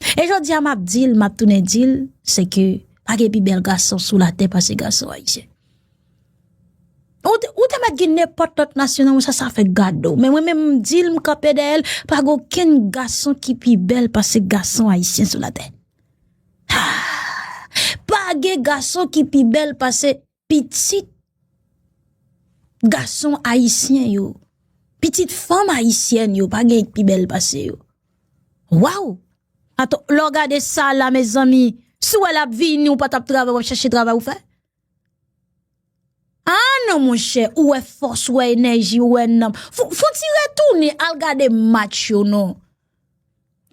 E jodi a map dil, map tounen dil, se ke pa gen pi bèl gason sou la tè pase gason ayisyen. Ou te mèt gen nenpòt lòt nasyon nan mwen sa sa fèk gade ou, men mwen menm m dil m kanpe dèyè l, pa gen okenn gason ki pi bèl pase gason ayisyen sou la tè. Haa! Pa gen gason ki pi bèl pase. pitit gason ayisyen yo, pitit fanm ayisyèn yo pa gen pi bèl pase yo. Waw! Ato, lò gade sa la mezanmi, si wè lap vini ou patap travay wap chache travay ou fè? A non monchè, ou wè fòs, ou wè enèji, ou wè nanm, fon ti retounen al gade match yo non.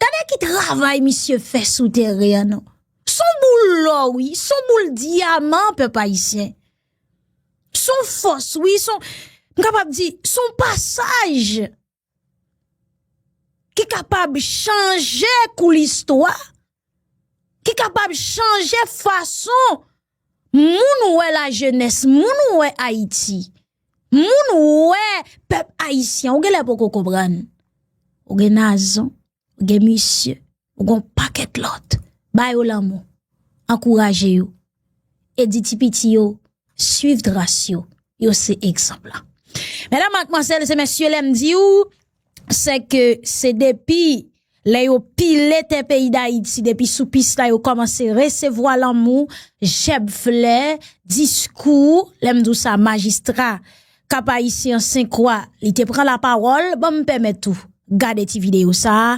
Gade ki travay misye fè sou teren an non. Son boul lò wi, son boul dyaman pèp ayisyen. Son fòs wi, son, m kapab di, son pasaj ki kapab chanje kou listwa. ki kapab chanje fason moun wè la jenès, moun wè Ayiti, moun wè pèp Ayisyen. Ou gen lè poko konprann. Ou gen Nazon, ou gen misye, ou gen yon pakèt lòt. Ba yo lanmou. Ankouraje yo. e di ti piti yo swiv tras yo, yo se egzanp la. Medam ak mwansèl se mèsyè lèm di yo, se ke se depi lè yo pile te peyi da iti, depi sou pis la yo komanse resevwa lanmou, jèb flè, diskou, lèm di w sa majistra kap ayisyen senkwa li te pran la pawòl, banm pèmèt ou gade ti video sa,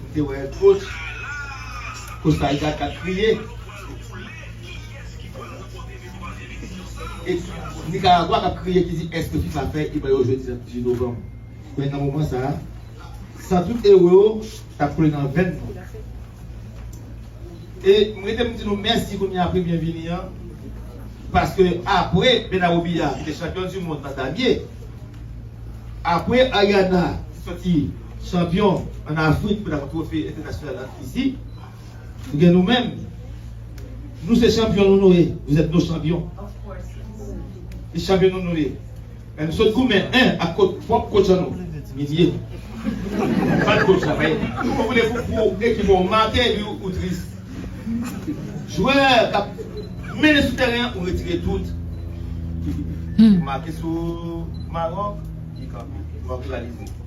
Ou te wè coach coach sa li ta ka kriye et Nicaragua kap kriye ki di eske fifa fè e ba yo jwe 18 novanm men nan moman sa san tout euro yo tap koule nan venn nou e m rete m di nou mèsi kounye a pou byenvini an paske apre Benaroubia ki te chanpyon du mond nan damye apre Ariana ki soti. Chanpyon an Afrik pou dakò twofe entènasyonal an fizi, nou gen nou menm. Nou se chanpyon nou nou ye, vous êtes nos champions. Se chanpyon nou nou ye. Men nou sot goumen 1 ak kot pwòp kotch an nou, Minie. Bat kotch la payen. Ou vle pou ekip ou make bi ou tris. Jwè k ap mennen sou tèren an ou retire dout. Ou make sou Maròk, li kanpe. Maròk rivalize.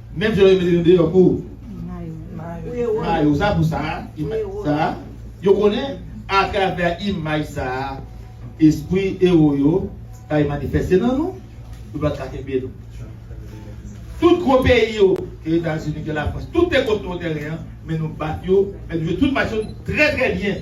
Menm jan yo mete nou deyò pou mayo sa pou sa a, yo konnen atravè imaj sa a espri ewo yo bay manifeste nan nou, yo pa t ka kenbe nou. Tout gwo peyi yo, ke Etazini, ke Lafrans, tout te kont nou tèren an, men nou bat yo, men nou jwe tout match yo trè trè byen.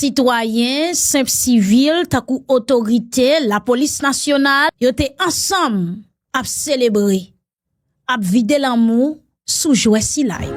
Sitwayen, senp sivil, tankou otorite, lapolis nasyonal, yo te ansanm ap selebre. ap vide lanmou sou jwè sila yo.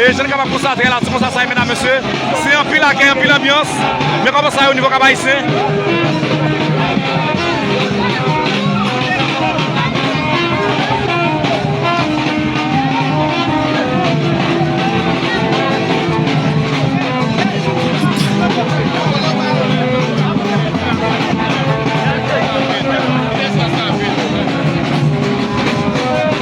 E jan nou kapab konsta atè a la ti konsa sa ye medam mesye, se anpil akèy anpil anbyans, men kòman sa ye o nivo Kap Ayisyen.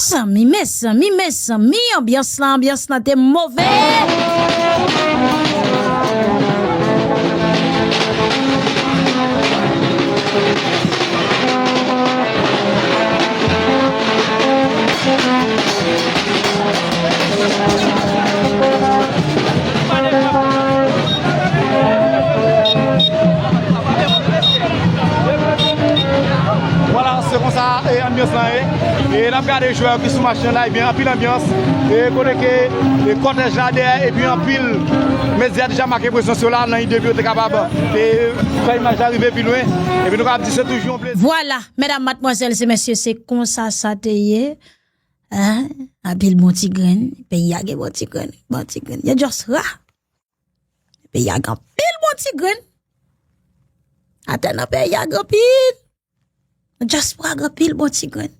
Mezanmi mezanmi mezanmi anbyans lan anbyans lan te move. E nap gade jwè yo ki sou match nan la ebyen anpil anbyans e kote ke kòtèj la dèyè epi anpil medya deja make prezans yo la nan ide pou yo te kapab e fè imaj la rive pi lwen epi nou kapab di se toujou yon plezi. Vwala, medam, matmwazèl se mesye se konsa sa te ye eh anpil bon ti grenn, peyi a gen bon ti grenn, bon ti grenn, yo just ra! Peyi a gen anpil bon ti grenn. Atè nan peyi a gen anpil. Nan dyaspora gen anpil bon ti grenn.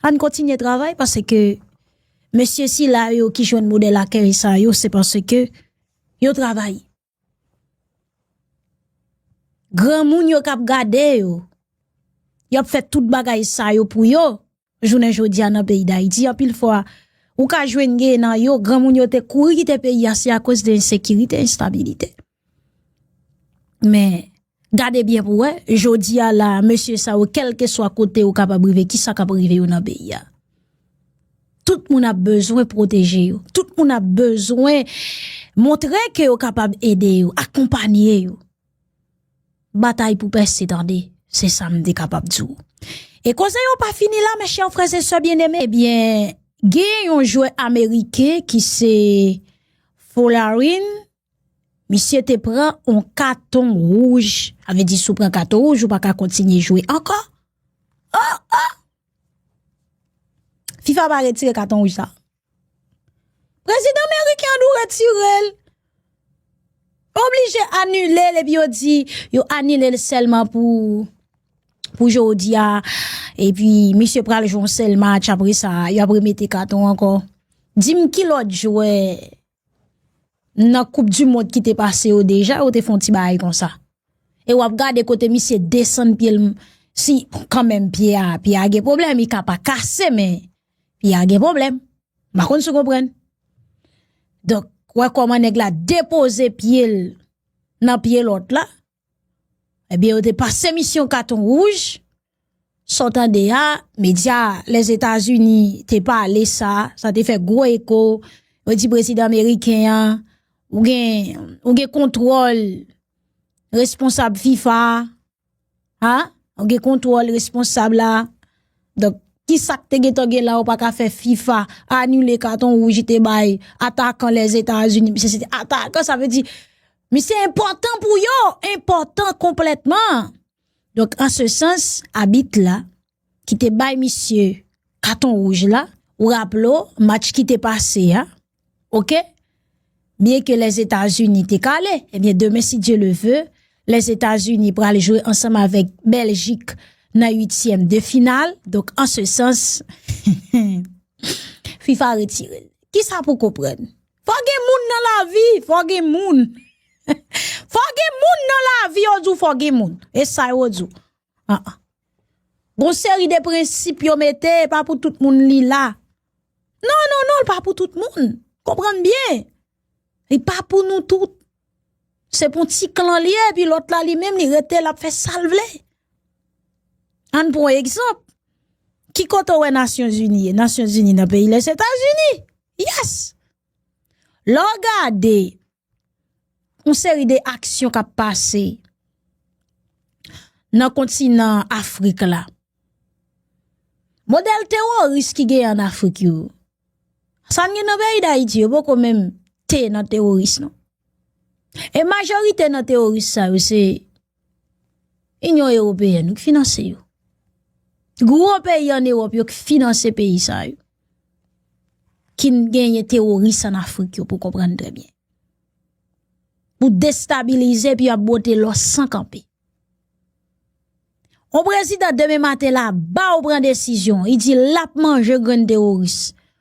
Ann kontinye travay pase ke mesye sila yo ki jwenn modèl akèy sa yo se pase ke yo travay. Granmoun yo k ap gade yo, y ap fè tout bagay sa yo pou yo. Jounen jodi a nan peyi Dayiti, anpil fwa, ou ka jwenn gen nan yo, gran moun yo te kouri kite peyi a, se a koz de ensekirite, enstabilite. Men, gade byen pou wè, jodi a la, mesye sa yo, kelke swa kote yo kapab rive, ki sa kap rive yo nan peyi a? Tout moun ap bezwen pwoteje yo, tout moun ap bezwen montre ke yo kapab ede yo, akonpanye yo. Batay pou pèse tande, se sa m te kapab di w. E koze yo pa fini la, mèchè frèzesè byeneme. Ebyen, gen yon jwè ameriken ki se Folarin, misye te pran yon katon wouj. A ve di sou pran katon wouj, ou pa ka kontinye jwe ankò. O, o! Fifa pa retire katon wouj sa. Prezidan meriken an dou retire l. Oblije anile l epi yo di yo anile l sèlman pou jodi a. Epi misye pral jwe yon sèl match apre sa yo ap remete katon ankò. Di m ki lòt jwè. Nan koup di mond ki te pase yo deja yo te fon ti baay kon sa. E wap gade kote misye desann pye l si kanmenm pye a pye a gen pwoblèm i ka pa kase men pye a gen pwoblèm. Mpa konn si w konprann. Donk wè kòman nèg la depoze pye l nan pye lòt la. Ebyen yo te pase misyon katon wouj, sa w tande a, medya Lèzetazini te pale sa, sa te fè gwo eko, yo di prezidan meriken an, ou gen kontwòl responsab fifa, ou gen kontwòl responsab la, donk ki sa k te gen tan gen la ou pa ka fè fifa anile katon wouj li te bay atakan Lèzetazini, misye se te atakan sa vle di. Misye enpòtan pou yo, enpòtan konplètman. Donk an se sans, abit la, ki te bay misye katon wouj la, ou raple ou, match ki te pase a, ok, byen ke Lèzetazini te kale, ebyen demen si Dye le ve, Lèzetazini pral jwe ansanm avèk Bèljik nan uityèm de final, donk an se sans, FIFA retire l. Kisa pou konprann? Fò gen moun nan lavi, fò gen moun. Fò gen moun nan lavi yo di w fò gen moun. E sa yo di w. An an. Gon seri de prensip yo mete e pa pou tout moun li la. Non, non, non, li pa pou tout moun. Konprann byen. Li pa pou nou tout. Se pou ti klan li e pi lòt la li menm li rete l ap fè sa l vle. An n pran egzanp. Ki kote ou wè Nasyon Zini e? Nasyon Zini nan peyi Lesetazini. Yes! Lè w gade yon seri de aksyon k ap pase nan kontinan Afrik la, modèl teworis ki gen an Afrik yo, sa n gen nan peyi Dayiti yo poko menm te nan teworis non. E majorite nan teworis sa yo se. Inyon Ewopeyèn yo ki finanse yo. Gwo peyi an Ewòp yo ki finanse peyi sa yo. Ki n genyen teworis an Afrik yo pou konprann trè byen. Pou destabilize pi ap bote lò san kanpe. On prezidant demen maten la ba ou pran desizyon. I di l ap manje grenn teworis.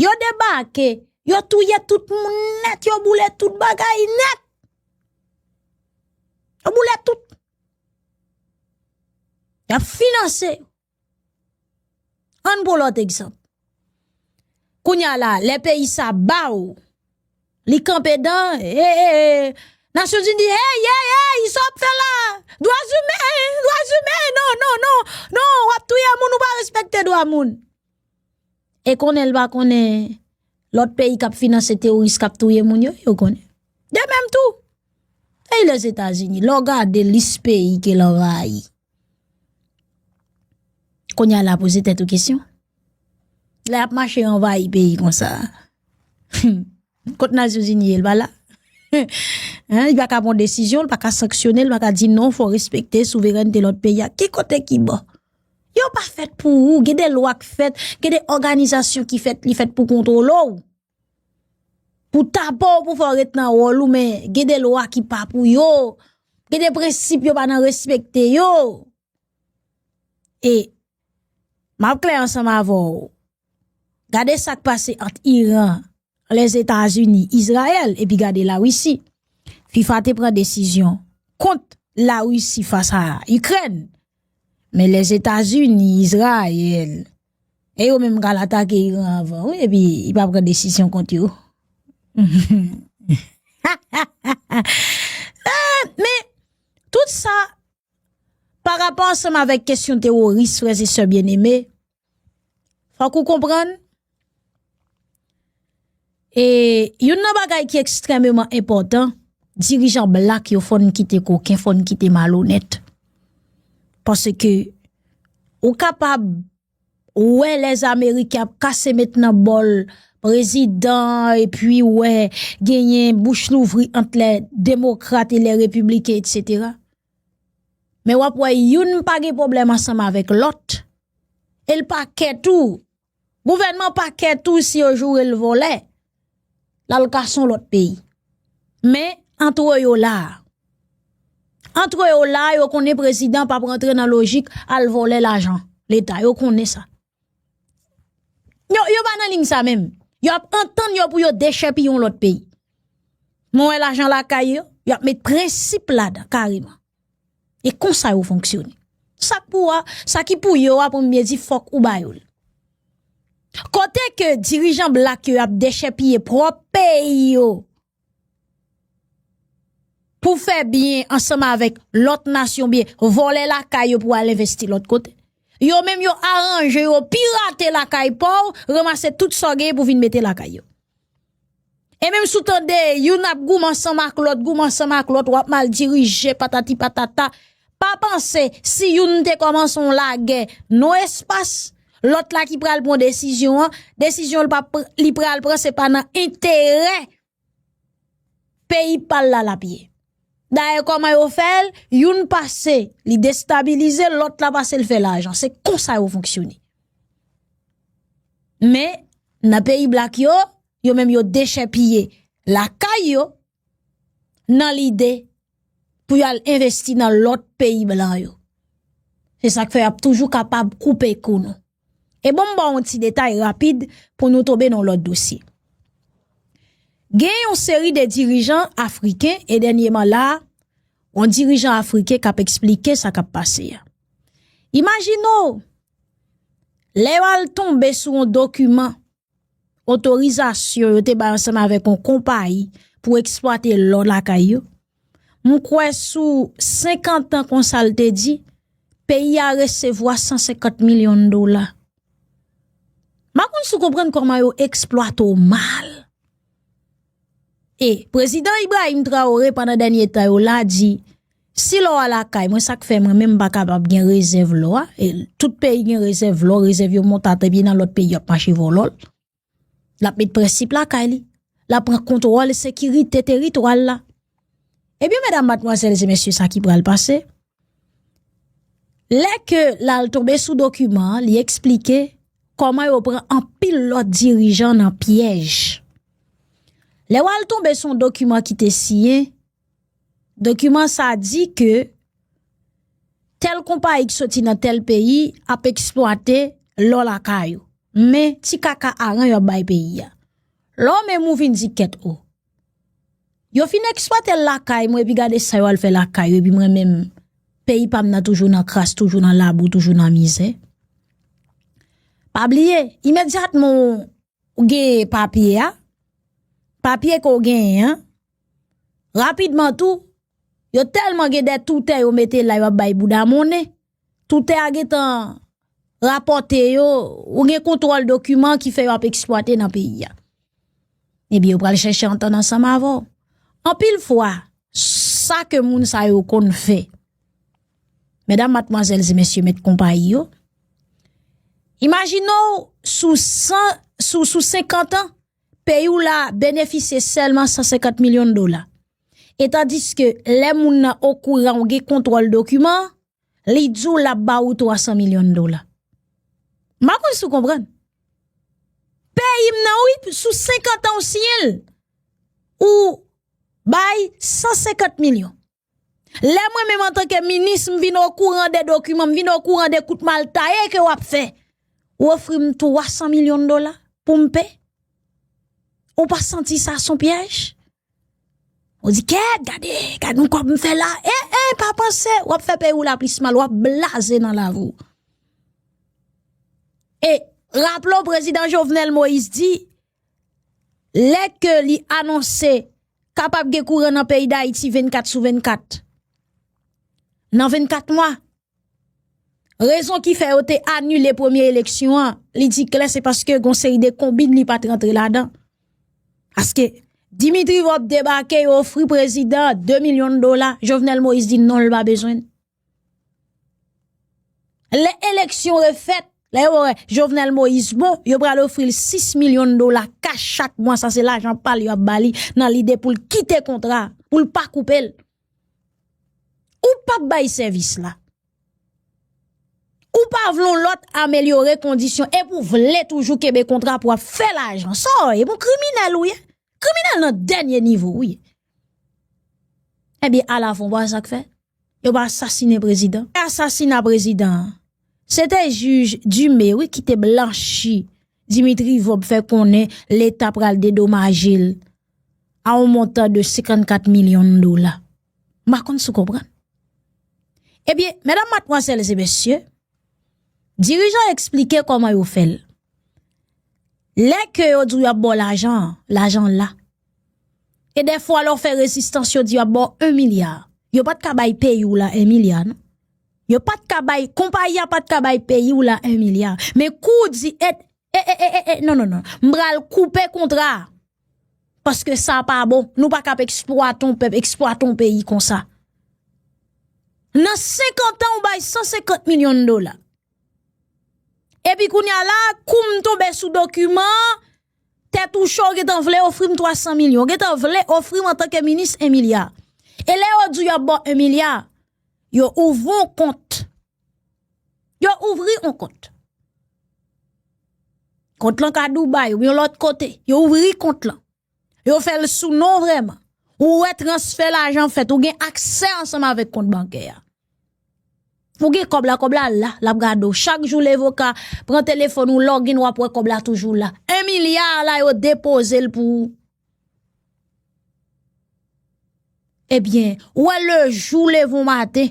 Yo debake, yo touye tout moun nèt, yo boule tout bagay nèt. Yo boule tout. Yo ap finanse. An pou lòt egzanp. Kounya la, lè peyi sa ba ou, li kanpe dan, e, e, e, nasyon zin di, e, e, e, e, sa wap fè la, dwa zimè, dwa zimè, non, non, non, non, wap touye moun ou pa respekte dwa moun. E konnen l pa konnen lòt peyi k ap finanse teworis k ap touye moun yo, yo konnen. De menm tou, peyi Lèzetazini, lè w gade lis peyi ke l anvayi, kounye a la poze tèt ou kesyon, lè y ap mache anvayi peyi konsa, hum! Kot nazyonzini ye li pa la Hein li paka pran desizyon li paka sanksyone li paka di non fò respekte souverènte lòt peyi a ki kote ki bon yo pa fèt pou ou gen de lwa k fèt gen de òganizasyon ki fèt li fèt pou kontwole w pou tapan w pou fè w ret nan wòl ou men gen de lwa ki pa pou yo gen de prensip yo pa nan respekte yo e. Map klè ansanm avè w. Gade sa k pase ant Iran, Lèzetazini, Izrayèl epi gade Larisi. Fifa te pran desizyon kont Larisi fas a Ikrèn. Men Lèzetazini, Izrayèl e yo menm pral atake Iran avan wi epi y pa pran desizyon kont yo. Men tout sa. Parapò ansanm avèk kesyon teworis frè e sè byeneme, fòk ou konprann, e youn nan bagay ki ekstrememan enpòtan, dirijan blak yo fòn kite koken, fòn kite malonèt. Paske ou kapab. Ou wè lè ameriken ap kase met nan bòl prezidan epi ou wè genyen bouch louvri ant lè demokrat e lè repibliken etc. Men w ap wè youn pa gen pwoblèm ansanm avèk lòt e l pa kè tou gouvènman pa kè tou si yo joure l vòlè. lal ka son lot peyi men antre yo la antre yo la yo konnen prezidan pap rantre nan lojik al vòlè lajan leta yo konnen sa yo pa nan ling sa menm yo ap antann yo pou yo dechèpi yon lot peyi mwen lajan lakay yo yo ap met prensip la dan kareman. E konsa yo fonksyone. Sa k pou ou a, sa ki pou yo a pou m byen di fòk ou ba yo l. Kote ke dirijan blak yo ap dechèpiye pwòp peyi yo pou fè byen ansanm avèk lòt nasyon ou byen vòlè lakay yo pou al envesti lòt kote. Yo menm yo aranje yo pirate lakay pa w, ranmase tout sa w genyen pou vin mete lakay yo. E menm si w tande youn ap goumen ansanm ak lòt, goumen ansanm ak lòt, w ap mal dirije, patati patata, pa panse si youn te kòmanse yon lagè nan espas lòt la ki pral pran desizyon an, desizyon li pral pran se pa nan enterè peyi pa l la l ap ye. Dayè kòman yo fèl, youn pase li destabilize, lòt la pase li fè lajan. Se konsa yo fonksyone. Men, nan peyi blak yo, yo menm yo dechèpiye lakay yo nan lide pou yo al envesti nan lòt peyi blan yo. Se sak fè ap toujou kapab koupe kou nou. E bon m ba w yon ti detay rapid pou nou tonbe nan yon lòt dosye. Gen yon seri de dirijan afriken e dènyeman la a, yon dirijan afriken k ap esplike sa k ap pase a. Imajine w, lè yo al tonbe sou yon dokiman. otorizasyon yo te bay ansanm avèk yon konpayi pou eksplwate lò lakay yo. M kwè sou 50 an konsa l te di, peyi a resevwa 150 milyon dola. M pa konn si w konprann kòman yo eksplwate w mal. E, Prezidan Ibrahim Traoré pandan dènye tan yo la di, si lò a lakay mwen sa k fè mwen menm m pa kapab gen rezèv lò a, e tout peyi gen rezèv lò, rezèv yo monte atè epi nan lòt peyi yo ap mache vòlò l, l ap met prensip lakay li, l ap pran kontwòl sekirite teritwa l la. Ebyen medam matmwazèl e mesye sa ki pral pase? Lè ke l al tonbe sou dokiman an, li eksplike kòman yo pran anpil lòt dirijan nan pyèj. Lè w al tonbe sou yon dokiman ki te siyen, dokiman sa di ke tèl konpayi ki soti nan tèl peyi ap eksplwate lò lakay ou. Men, ti kaka aran yo ap bay peyi a. Lè w menm ou vin di kèt o, Yo fin eksplwatel lakay mwen epi gade sa yo al fè lakay yo epi mwen menm peyi pam nan toujou nan kras toujou nan labou toujou nan mizè pa bliye imedyatman ou gen papye a papye ke ou genyen an rapidman tou yo telman gen de toutè yo mete la yo ap bay bouda monnen Toutè a gen tan rapòte yo, ou gen kontwòl dokiman ki fè yo ap eksplwate nan peyi a. Ebyen yo pral chèche antann ansanm avè w. Anpil fwa, sa ke moun sa yo konn fè, medam, matmwazèl, e mesye mèt konpayi yo, imajine w sou 100, sou 50 an, peyi w la benefisye sèlman 150 milyon dola. E tandiske lè moun nan okouran ou gen kontwòl dokiman, li di w l ap ba ou 300 milyon dola. M pa konn si w konprann. Peyi m nan wi, sou 50 an ou siyen l, ou bay 150 milyon. Lè mwen menm antanke minis m vin okouran de dokiman, m vin okouran de kout mal taye ke w ap fè, ou ofri m 300 milyon dola pou m peye? Ou pa santi sa son pyèj? Ou di kèt gade, gade yon kòb m fè la, e e pa panse wap fè peyi ou la plis mal wap blaze nan lavi ou. E raplo prezidan Jovenel Moïse di, lè ke li anonse kapab gen kouran nan peyi d'Haïti 24 sou 24, nan 24 mwa. Rezon ki fè yo te anile premye eleksyon an, li di klè se paske gon seri de konbit li pat rantre ladan. Aske Dimitri Vorbe debake yo ofri prezidan 2 milyon dola, Jovenel Moïse di non l pa bezwen. Le eleksyon refèt, le yo wè Jovenel Moïse bon, yo pral ofri l 6 milyon dola kach chak mwa, sa se lajan pa l yo ap bali nan lide pou l kite kontra, pou l pa koupe l. Ou pap bay sèvis la. Ou pa vle yon lòt amelyore kondisyon epi ou vle toujou kenbe kontra pou ap fè lajan. Sa w ye? Bon kriminèl ou ye. Kriminèl nan dènye nivo ou ye. Ebyen ala fon wè sa k fè. Yo pa asasine prezidan. Apre asasina prezidan an, se te jij Dume wi ki te blanchi Dimitri Vob fè konnen leta pral dedomaje l. a yon montan de 54 milyon dola. M pa konn si w konprann. Ebyen, medam matmwazèl e mesye, dirijan eksplike kòman yo fè l. Lè ke yo di w yo ap ba w lajan an, lajan an la. E defwa lè w fè rezistans yo di yo ap ba w 1 milya. Yo pa t ka bay peyi w la 1 milya non. Yo pa t ka bay, konpayi a pa t ka bay peyi w la 1 milya. Men kou w di et, e e e e e, non non non, m pral koupe kontra a. Paske sa pa bon. Nou pa kap eksplwate yon pèp, eksplwate yon peyi konsa. Nan 50 an ou bay 150 milyon dola. Epi kounye a la, koum tonbe sou dokiman, tèt ou cho ou gentan vle ofri m 300 milyon. Ou gentan vle ofri m antanke minis 1 milya. E lè yo di yo ap ba w 1 milya, yo ouvri yon kont. Yo ouvri yon kont. Kont lan ka Dubai ou yon lòt kote. Yo ouvri kont lan. Yo fè l sou non vreman. Ou wè transfè lajan fèt. Ou gen aksè ansanm avèk kont bankè a. Ou gen kòb la, kòb la la. L ap gade ou. Chak jou levoka pran telefòn ou login w ap wè kòb la toujou la. 1 milya a la yo depoze l pou ou. Ebyen, ou wè le jou levon maten.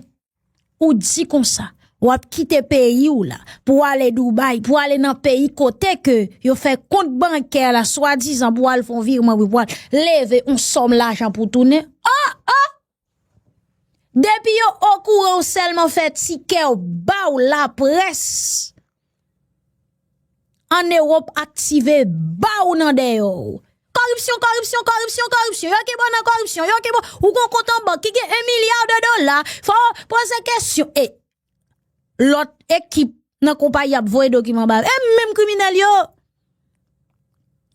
Ou di konsa, wap kite peyi w la pou w ale Dubai, pou w ale nan peyi kote ke yo fè kont bankè la swadizan pou w al fon virman pou w al leve yon sòm lajan pou w tounen. Oh! Oh! Depi yo okouran w sèlman fè tikè w ba w laprès. An Ewop aktive baw nan deyo. Koripsyon, koripsyon, koripsyon, koripsyon. Yo ki bon nan koripsyon, yo ki bon. Ou gon kont an bank ki gen 1 milya de dola. Fò ou poze kesyon. E lot ekip nan konpayi ap voye dokiman ba. E menm kriminel yo.